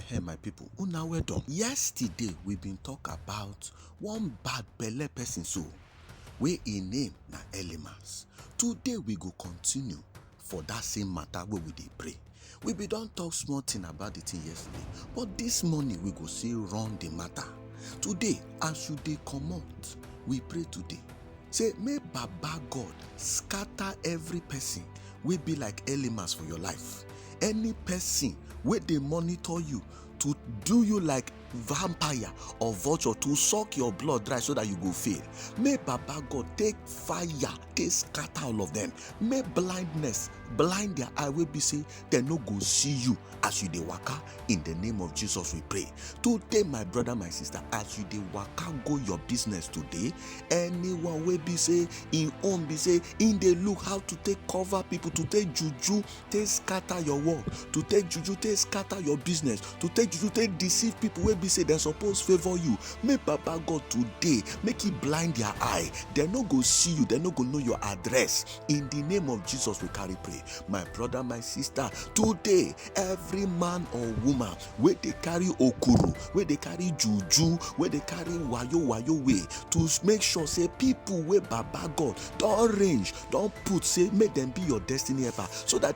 Hey, my people una well done yesterday we been talk about one bad belle person so wey im name na elimas today we go continue for that same matter wey we dey pray we bin don talk small thing about the thing yesterday but this morning we go still run the matter today as you dey comot we pray today say make baba god scatter every person wey be like elimas for your life any person wey dey monitor you to do you like vampire or vulture to suck your blood dry so that you go fail may baba god take fire take scatter all of them may blindness blind their eye wey be say dem no go see you as you dey waka in the name of jesus we pray today my brother my sister as you dey waka go your business today anyone wey be say im own be say im dey look how to take cover people to take juju take scatter your work to take juju take scatter your business to take juju take deceive people wey be say dem suppose favour you make baba god today make e blind their eye dem no go see you dem no go know your address in the name of jesus we carry pray my brother my sister today every man or woman where they carry okuru where they carry juju where they carry wayo wayo way to make sure say people where baba god don't range don't put say make them be your destiny ever so that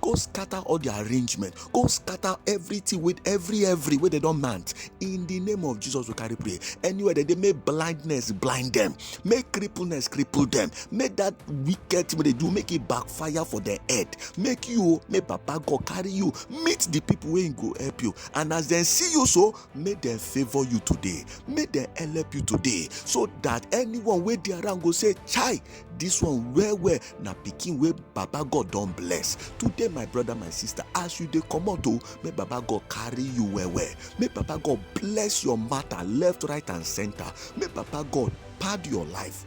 go scatter all the arrangement go scatter everything with every every way they don't mount in the name of jesus we carry pray anywhere that they may blindness blind them make crippleness cripple them make that wicked thing they do make it backfire for their head make you make papa god carry you meet the people wey go help you and as they see you so make them favour you today make them help you today so that anyone wey dey around go say chai This one well well na pikin wey baba god don bless today my brother my sister as you dey comot o make baba god carry you well well make baba god bless your matter left right and center make baba god pad your life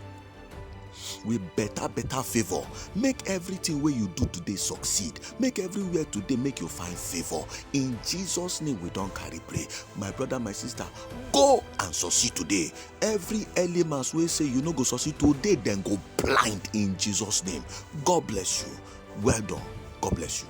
with better better favour make everything wey you do today succeed make everywhere today make you find favour in jesus name we don carry pray my brother my sister go and succeed today every elements wey say you no go succeed today dem go blind in jesus name god bless you well done god bless you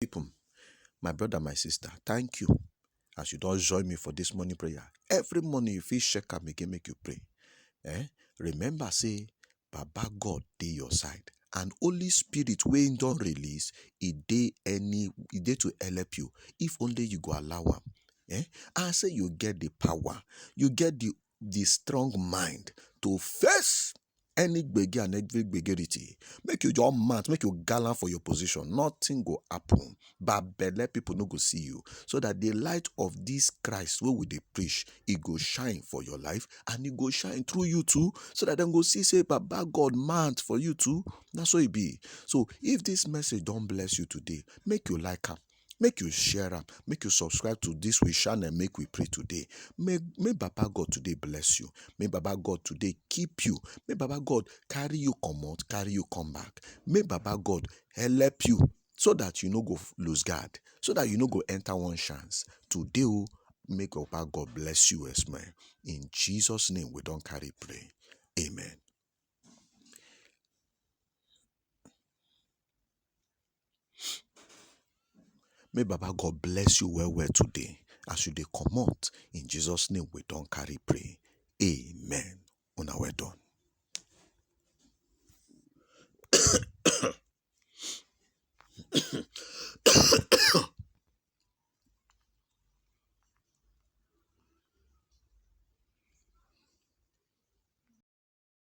people, my brother, my sister, thank you as you don't join me for this morning prayer. Every morning you feel shake am again make you pray. Eh? Remember say Baba God dey your side and Holy Spirit wey him don release e dey any e dey to help you if only you go allow am. Eh? And say you get the power, you get the the strong mind to face any gbege and every gbegerity make you just mad make you gallant for your position nothing go happen but belle people no go see you so that the light of this christ wey we dey preach e go shine for your life and e go shine through you too so that dem go see say baba god mad for you too na so e be so if this message don bless you today make you like am make you share am make you subscribe to this we channel make we pray today may may baba god today bless you may baba god today keep you may baba god carry you come out carry you come back may baba god help you so that you no go lose guard so that you no go enter one chance today oh, make baba god bless you as man in jesus name we don't carry pray amen May Baba God bless you well well today as you dey comot. In Jesus name we don carry pray. Amen. Una well done.